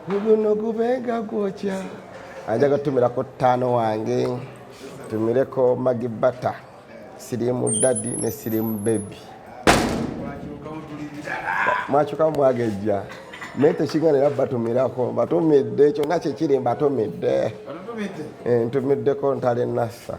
guno gubenga gwokya anjaga tumirako ttaano wange tumireko magi bata sirimu dadi ne sirimu bebi mwakyukamu mwagejja naye tekigana era batumirako batumidde kyonna kyekiri mbatumidde eh, ntumiddeko ntale nassa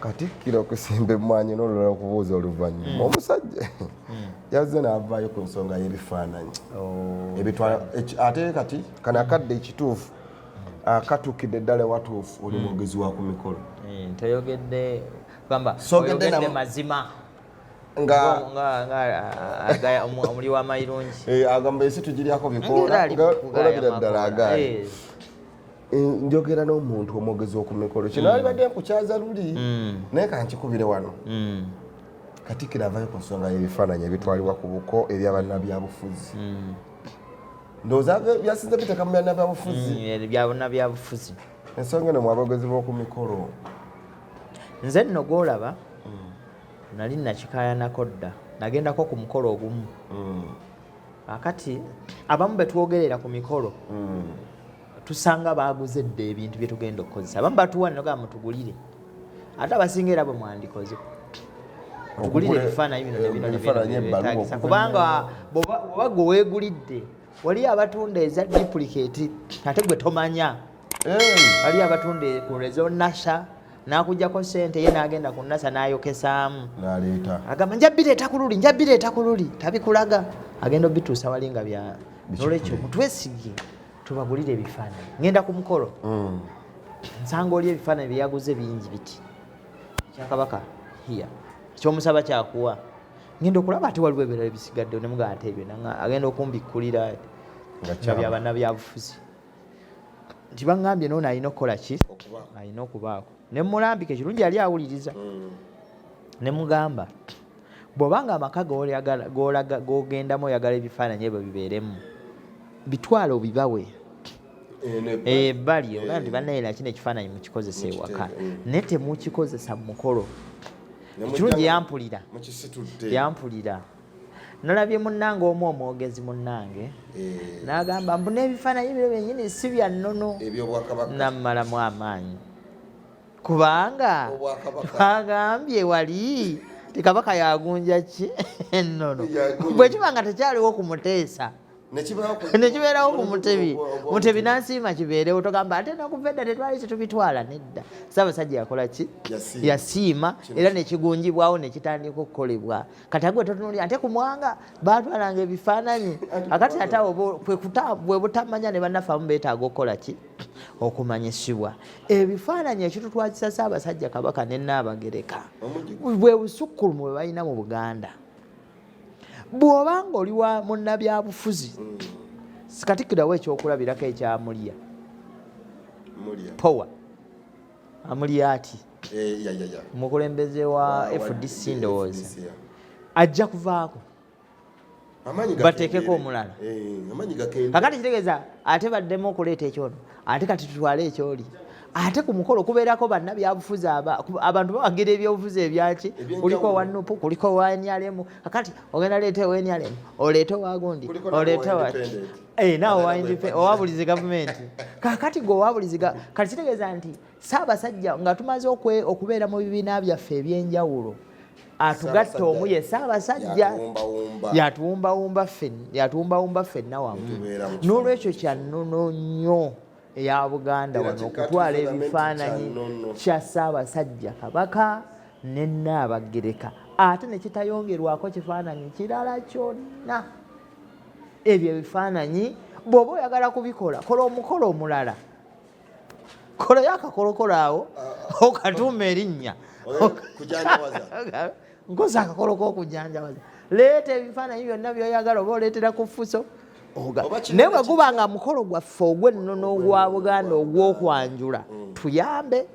Katikkiro okusimba emmwanyi n'olulala okubuuza oluvannyuma hmm. omusajja hmm. yazze n'avaayo ku nsonga y'ebifaananyi oh, ebitwala ate kati kano akadde ekituufu hmm. akatukidde ddala watuufu oli mwogezi wa ku mikolo eh, toyogedde gamba oyogedde mazima nga omuli wamairungi eh, agamba ensi tugiryako bikoola olabira ddala agaali eh. Eh, njogera n'omuntu omwogezi oku mikolo kino mm. alibadde nkukyaza luli mm. naye kankikubire wano mm. katikira avayo ku nsonga y'ebifaananyi ebitwalibwa ku buko ebyabannabyabufuzi ndowooza byasinze biteeka mu byanabyabufuzi byabannabyabufuzi ensonga eno mwabogezi b'oku mikolo nze nno gwolaba nali nakikayanako dda nagendako ku mukolo ogumu akati abamu betwogerera ku mikolo tusanga baaguze dda ebintu bye tugenda okukozesa abamu batuwa nogamba mutugulire ate abasinga era bwe mwandikoze otugulire ebifaananyi bino nebino nebinobetagisa kubanga bwoba gwe weegulidde waliyo abatunda eza duplicate ate gwe tomanya waliyo abatunda ku rezo nasha nakujjako sente ye nagenda ku nasa nayokesaamu agamba njabireeta ku luli njabireeta ku luli tabikulaga agenda obituusa wali nga bya nolwekyo mutwesigie tubagulire ebifaananyi ngenda ku mukolo mm. nsanga oli ebifaananyi byeyaguze bingi biti ekyakabaka hiya ekyomusaba kyakuwa ngenda okulaba ate waliwo ebirala ebisigadde nemuga ate ebyo agenda okumbikkulira nga byabanabyabufuzi nti baŋambye noona alina okukola ki alina okubaako nemulambika ekirungi yali awuliriza mm. nemugamba bw'oba nga amaka g'ogendamu oyagala ebifaananyi ebyo bibeeremu bitwale obibawe ebbali eh, eh, ogaa nti eh. bannaye nakino ekifaananyi mukikozesa ewaka mm. naye temukikozesa mu mukolo ekirungi yampulira yampulira nalabye munnange omu omwogezi munnange n'agamba mbu n'ebifaananyi biro byenyini si bya nnono nammalamu amaanyi kubanga twagambye wali tikabaka yagunja ki ennono bwe kiba nga tekyaliwo ku muteesa nekibeerawo ku mutebi mutebi nansiima kibeerewo togamba ate nakuva edda tetwali kitubitwala nedda saabasajja yakola ki yasiima era nekigunjibwawo nekitandika okukolebwa kati agwe totunuli ate ku mwanga batwalanga ebifaananyi akati ate bwebutamanya ne bannaffe abamu betaaga okukola ki okumanyisibwa ebifaananyi ekitutwazisa ssaabasajja kabaka ne naabagereka bwe busukkulumu bwe balina mu buganda bw'oba nga oli wa munnabyabufuzi mm. katikkirawo ekyokulabirako ekyamulya power amulya ati eh, mukulembeze wa fdc ndowooza ajja kuvaako bateekeko omulala eh, kakati kitegeeza ate baddemu okuleeta ekyono ate kati tutwale ekyoli ate ku mukolo kubeerako bannabyabufuzi abantu bawagira ebyobufuzi ebyaki kuliko owa nupu kuliko owa nrm kakati ogenda leeta owa nrm oleete owagundi oleete eh, nawe owa buli zi gavumenti kakati gwe owa buli zi kati kitegeeza nti Ssaabasajja nga tumaze okubeera mu bibiina byaffe eby'enjawulo atugatta omu ye Ssaabasajja yatuwumbawumba ffenna wamu n'olwekyo kya nnono nnyo eya Buganda wano okutwala ebifaananyi kya Ssaabasajja Kabaka ne Nnaabagereka ate ne kitayongerwako kifaananyi kirala kyonna ebyo ebifaananyi bw'oba oyagala kubikola kola omukolo omulala kolayo akakolokolo awo ah, ah. okatuuma erinnya nkozi akakolo kokujanjawaza leeta ebifaananyi byonna byoyagala oba oleetera ku fuso naye bwe guba nga mukolo gwaffe ogw'ennono ogwa buganda ogw'okwanjula mm. tuyambe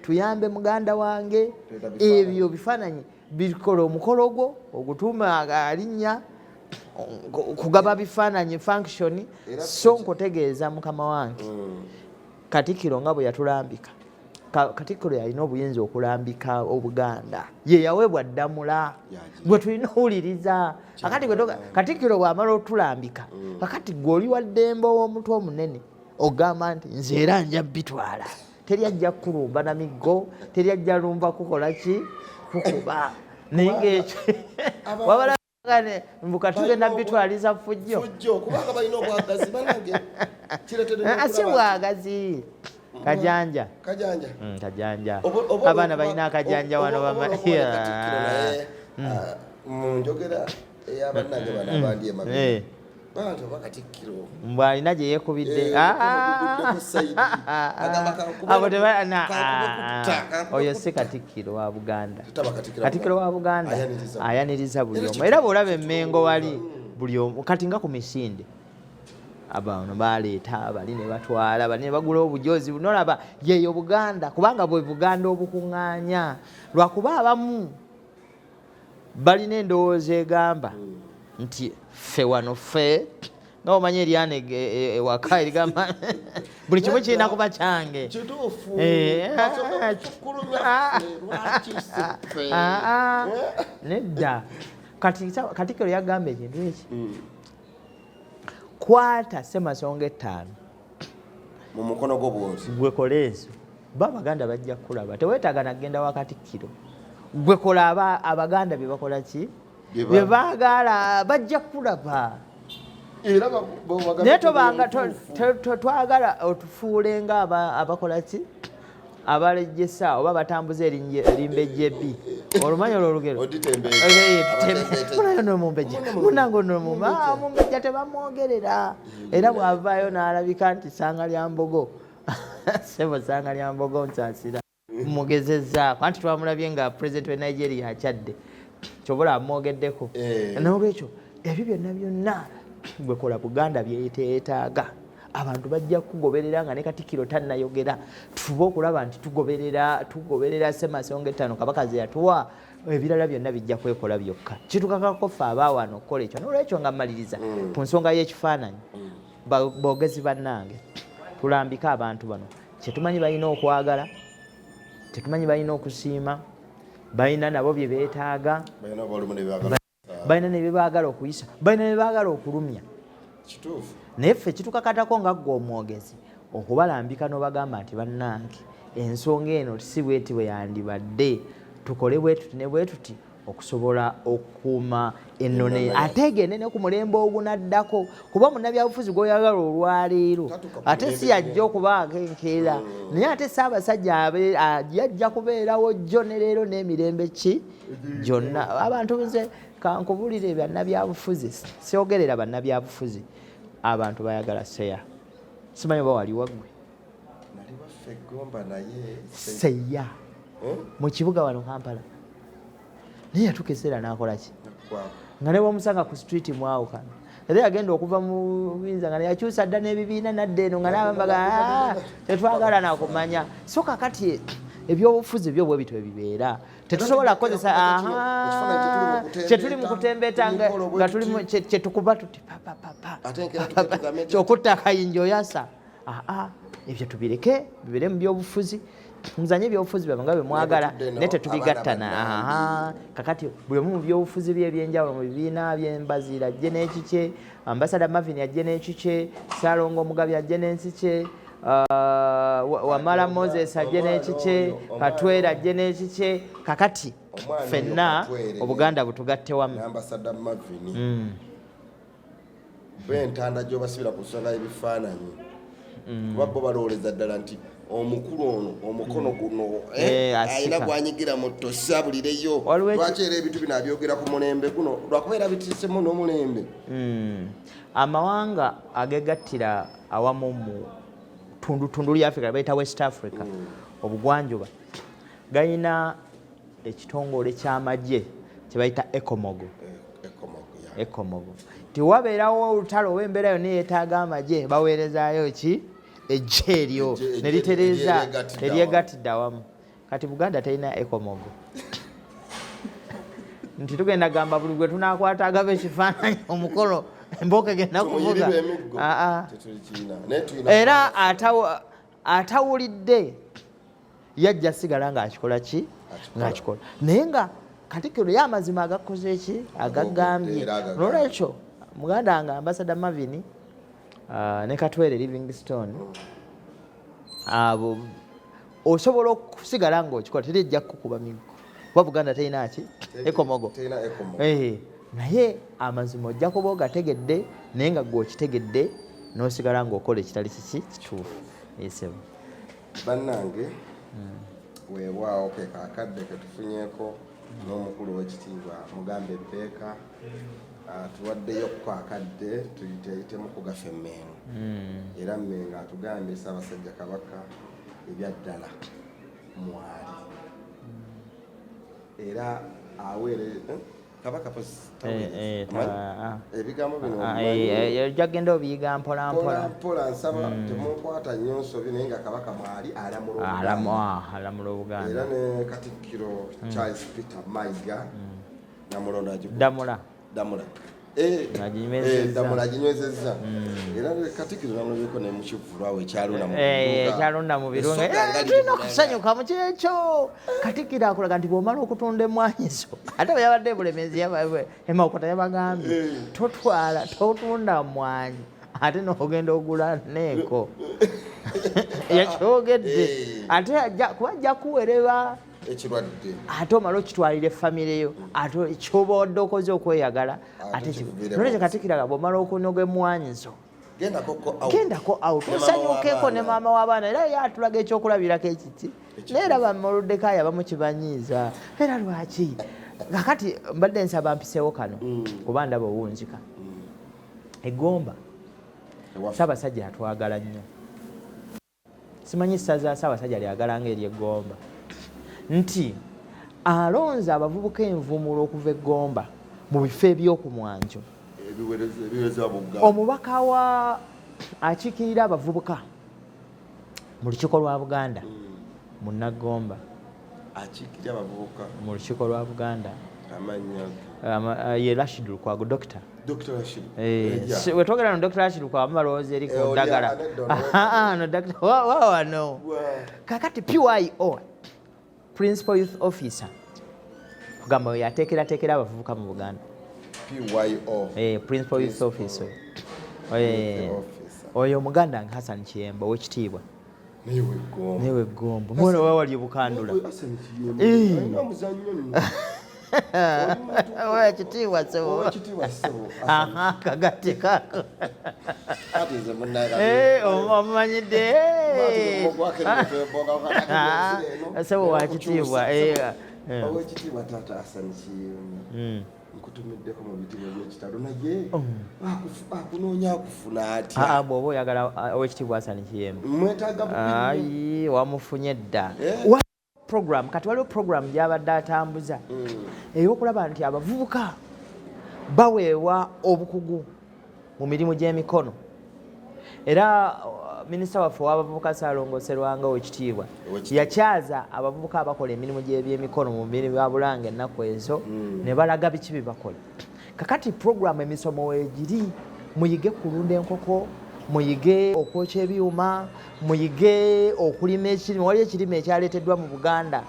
tuyambe muganda wange ebyo bifaananyi bikola omukolo gwo ogutuuma alinnya kugaba bifaananyi function so nkutegeeza mukama wange mm. katikiro nga bwe yatulambika katikiro yalina obuyinza okulambika obuganda ye yaweebwa ddamula gwe tulina owuliriza akati katikiro bwamala otulambika mm. kakati gwe oli waddembe ow'omutwe omunene ogamba nti nze era nja bitwala teri ajja kulumba na miggo teri ajja lumba kukola ki kukuba naye ngaekyo wabalagane mbuka tugenda bitwaliza fujjo si bwagazi kajanja kajanja mm, kajanja abaana balina akajanja wano bamamunjogera eyabanange bana abandi emabega mbu alina gye yeekubidde eh, ah, ah. oyo si katikkiro wa buganda katikkiro wa buganda ayaniriza buli omu era bwolaba emmengo wali buli omu kati nga ku misinde abano baleeta bali ne batwala bali ne bagula obujozi nolaba yeyo buganda kubanga bwe buganda obukuŋŋaanya lwakuba abamu balina endowooza egamba nti ffe wano ffe nga omanyi eryana e, e, ewaka erigamba buli kimu kirina kuba kyange eh, ah, ah, ah, nedda katikiro yagamba ekintu eki hmm. kwata semasonga ettaano mu mukono gwo bwozi gwe kola ezo bo abaganda bajja kukulaba tewetaaga nagenda wa katikkiro gwe kola abaganda bye bakola ki bye baagaala bajja kukulaba naye tobanga twagala otufuule nga abakola ki abalejjesa oba batambuza erimbejjebi olumanya olwo olugero nomumbejja munange onomumbejja tebamwogerera era bwavaayo n'alabika nti sanga lya mbogo sebo sanga lya mbogo nsasira mugezezaako anti twamulabye nga president we nigeria akyadde kyobola amwogeddeko eh. nolwekyo ebyo byonna byonna gwekola buganda byeyeteyetaaga abantu bajja kugoberera nga ne katikiro tannayogera tufube okulaba nti tugoberera tugoberera semasonga ettaano kabaka ze yatuwa ebirala byonna bijja kwekola byokka kitukakako ffe abaawano okukola ekyo nolwekyo nga mmaliriza mm. ku nsonga y'ekifaananyi mm. boogezi bannange tulambike abantu bano kyetumanyi balina okwagala kyetumanyi balina okusiima balina nabo bye beetaaga balina ne byebaagala okuyisa balina ne byebaagala okulumya naye ffe kitukakatako nga ggwe omwogezi okubalambika n'obagamba nti bannange ensonga eno si bweti bwe yandibadde tukole bwetuti ne bwetuti okusobola okukuuma ennone ate egende ne ku mulembe ogunaddako kuba munnabyabufuzi gw'oyagala olwaleero ate si yajja okubaako enkeera mm. naye ate saabasajja yajja kubeerawo jjo ne leero n'emirembe ki gyonna abantu nze kankubulire bannabyabufuzi siogerera bannabyabufuzi abantu bayagala seya simanyi oba wali waggwe seya eh? mu kibuga wano kampala naye yatuka ekiseera nakolaki nga nebamusanga ku street mwawukana era yagenda okuva mu buyinza nga yakyusa dda n'ebibiina nadda eno nga nabambaga ah, tetwagala nakumanya so kakati ebyobufuzi byo bwe bityo bibeera tetusobola kukozesa kyetuli mu kutembeeta nga tuli kyetukuba tuti kyokutta akayinja oyasa ebyo tubireke bibere mu byobufuzi muzanye ebyobufuzi byabwe nga bwe mwagala naye tetubigattana kakati buli omu mu byobufuzi bye ebyenjawulo mu bibiina byembaziira ajje n'ekikye ambasada mavin ajje n'ekikye salongo omugabi ajje n'ensikye Ah, wamala moses ajje n'ekikye katwera ajje n'ekikye kakati fenna obuganda butugatte wamu mm. bentanda gyobasibira ku nsonga y'ebifaananyi mm. kuba bo balowooleza ddala nti omukulu ono omukono mm. guno eh, eh, alina gwanyigira mu tosi abulireyo lwaki era ebintu bino abyogera ku mulembe guno lwakuba era bitiisemu n'omulembe amawanga agegattira awamu mu tundutundu lya africa baita west africa mm. obugwanjuba galina ekitongole kyamagye kyebayita ecomogo eh, ecomogo tiwabeerawo olutalo oba embeera yonna eyetaaga amagye baweerezayo ki ejje eryo neritereza eryegattidde awamu kati buganda terina ekomogo nti tugenda gamba buli gwe tunakwata agaba ekifaananyi omukolo emboka egenda kuvuga era atawulidde yajja sigala ng'akikola ki ng'akikola naye nga katikiro ye amazima agakoze eki agagambye nolwekyo muganda nga ambasada mavini ah, ne katwere livingstone mm. abo osobola okusigala ngaokikola teri ejja kukuba miggo kuba buganda terina ki ekomogo eh, naye amazima ojja kuba ogategedde naye nga gwe okitegedde nosigala ngaokola ekitali kiki kituufu esebo bannange hmm. weewaawo ke kakadde ketufunyeko n'omukulu w'ekitiibwa mugambe ebbeeka ah, tuwaddeyo ku kakadde tuyiteyitemu kugafa emmengo hmm. era mmengo atugambye ssaabasajja kabaka ebyaddala mwali era aweere eh, kabaka eh, eh, ah. ebigambo bino ah, jagenda obiyiga mpolampola nsaba hmm. temunkwata nnyo nsobi naye nga kabaka mwali alamula obuganda era ne katikkiro hmm. charles peter maiga hmm. namulonda damula damula eh, eh, damula aginywezezza hmm. era katikiro namulabyeko ne mukivulwawo ekyalondamuekyalonda mu birunga eh, tulina okusanyuka mu kiro ekyo katikiro akulaga nti bwomala okutunda emwanyizo ate bwe yabadde ebulemezi emakota yabagambye totwala totunda mwanyi ate nogenda ogula neeko yakyogedde ate kuba ajja kuwereba ekirwadde ate omala okitwalire famire yo ate kyoba wadde okoze okweyagala ate nole kyekatikiraga bwomala okunoga emwanyizo gendako out osanyukeko ne maama w'abaana era yatulaga ekyokulabirako ekiti naye era bamolodekayo abamu kibanyiiza era lwaki kakati mbadde nsaba mpisewo kano mm. kuba ndaba owunzika mm. egomba sabasajja atwagala nnyo Simanyi ssaza Ssaabasajja lyagala nga ery'e Gomba nti alonze abavubuka envumulo okuva e Gomba mu bifo eby'oku mwanjo. Omubaka wa akiikirira abavubuka mu lukiiko lwa Buganda, mm. Munnagomba. akiikirira abavubuka mu lukiiko lwa buganda amannya uh, ye rashid lukwago dokita eh, wetwogera no dr rashid lukwago mubalowooza eri ku eh, ddagala wawano kakati pyo principal youth officer kugamba oyo ateekerateekera abavubuka mu buganda eh, principal youth officer oyo omuganda nga hassan kiyemba owekitiibwa newe gombo mwana wa wali bukandula wakitiibwa seboakagate kako omumanyidde sebo wakitiibwa owekitiibwa taata asanikiyo nkutumiddeko mu bitibwa byekitalo naye oh. akunoonya akufuna atya ah, ah, bwoba oyagala ah, owekitiibwa asani kiyemu mwetaaga ayi wamufunye dda eh? program kati waliwo program gyabadde atambuza hmm. eyokulaba nti abavubuka baweebwa obukugu mu mirimu gy'emikono era uh, minisita waffe owabavubuka saalongo serwanga owekitiibwa yakyaza abavubuka abakola emirimu gy'ebyemikono mu mirimu ya bulanga ennaku ezo hmm. ne balaga biki bye bakola kakati puroguramu emisomo wegiri muyige kulunda enkoko muyige okwokya ebyuma muyige okulima ekirime waliyo ekirime ekyaleeteddwa mu buganda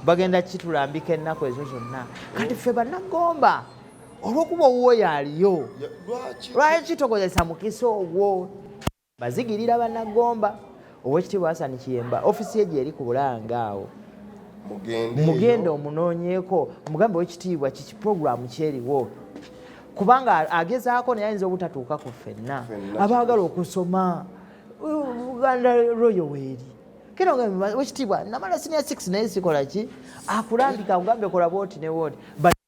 bagenda kitulambika ennaku ezo zonna kati ffe banagomba olwokuba owuwo yaliyo lwaki kitokozesa mukisa ogwo bazigirira banagomba owekitiibwa hasani kiyemba ofisi ye gyeri ku bulanga awo mugende omunoonyeeko mugambe owekitiibwa kiki puroguramu kyeriwo kubanga agezaako naye ayinza obutatuuka ku ffenna abaagala okusoma uganda royo weeri kino wekitiibwa namala sinia 6 naye sikola ki akulambika akugambye kola bwoti ne wooti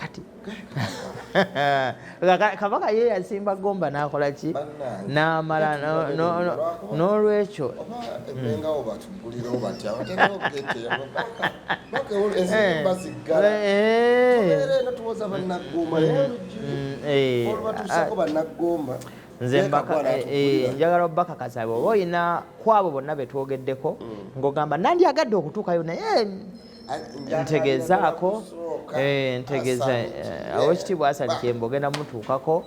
kati kabaka ye yasimba gomba nakola ki namala n'olwekyo nze eh, eh, njagala obakakasa bwoba olina kwabo bonna betwogeddeko mm. ng'ogamba nandyagadde okutuukayo naye ntegezaako eh, ntegeza eh, awekitiibwa asali kyemba ogenda mutuukako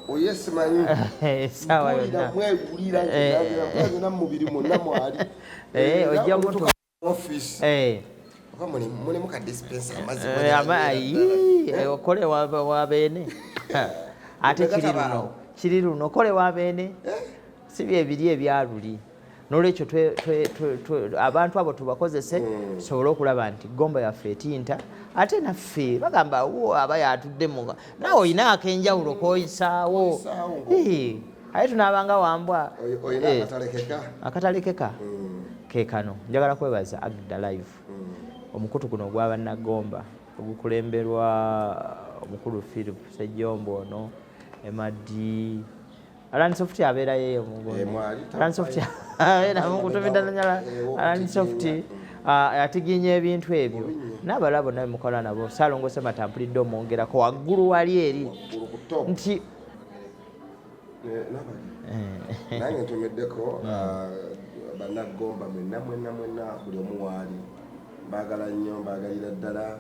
esaawa oh, yonna eh, ojja mutu okole wabeene ate kiri luno kiri luno okole wabeene si byebiri ebyaluli nolwekyo abantu abo tubakozese mm. tusobole okulaba nti gomba yaffe etinta ate naffe bagamba wo aba yatuddemuga naawe olina akenjawulo koyisaawo aye tunaabanga wambwa eh, akatalekeka mm. kekano njagala kwebaza agda live mm. omukutu guno ogwa bannagomba ogukulemberwa omukulu philip sejjombo ono emadi Alan Soft abeera yeye mungoni. Eh, Alan Soft abeera mungutubidda nanyala. Eh, Alan Soft atiginya ah, ebintu ebyo n'abalabo nawe mukola nabo salongo semata mpulidde omwongerako waggulu wali eri nti eh, nange ntomeddeko hmm. ah, banaggomba mwenna mwenna mwenna buli omu waali mbaagala nnyo mbaagalira ddala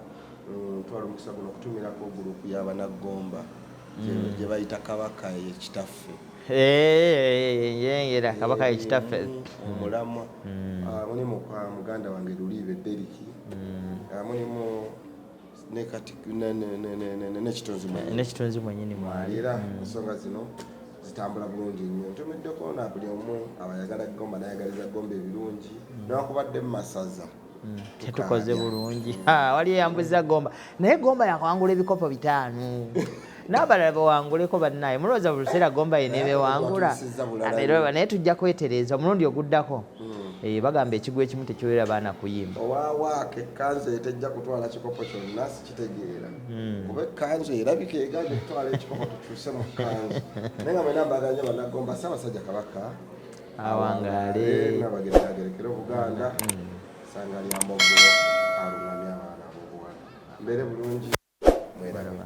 mm, twala omukisa guno okutumirako gulupu y'abanaggomba gye bayita kabaka ye kitaffe yengera kabaka ye kitaffe omulamwa mulimu kwa muganda wange luliibe deriki mulimu nekitonzi mwenyini mwali era ensonga zino zitambula bulungi nnyo ntumiddeko na buli omu abayagala gomba nayagaliza gomba ebirungi newakubadde mu masaza Mm, tetukoze bulungi wali eyambuza gomba naye gomba yakwangula ebikopo bitaano n'abalala bawanguleko bannaye mulowooza buli luseera gomba ye nebewangula amereba naye tujja kwetereeza omulundi oguddako mm. eh, bagamba ekigwa ekimu tekiwera baana kuyimba owawaako ekkanzu eyo tejja kutwala kikopo kyonna sikitegeera mm. kuba ekkanzu erabika eganja okutwala ekikopo tukyuse mu kkanzu naye nga mwena mbaganya banagomba ssaabasajja kabaka awangaale nabagenda agerekere obuganda sanga lyambogo alungamya abaana bobuwala mbere bulungi mweraba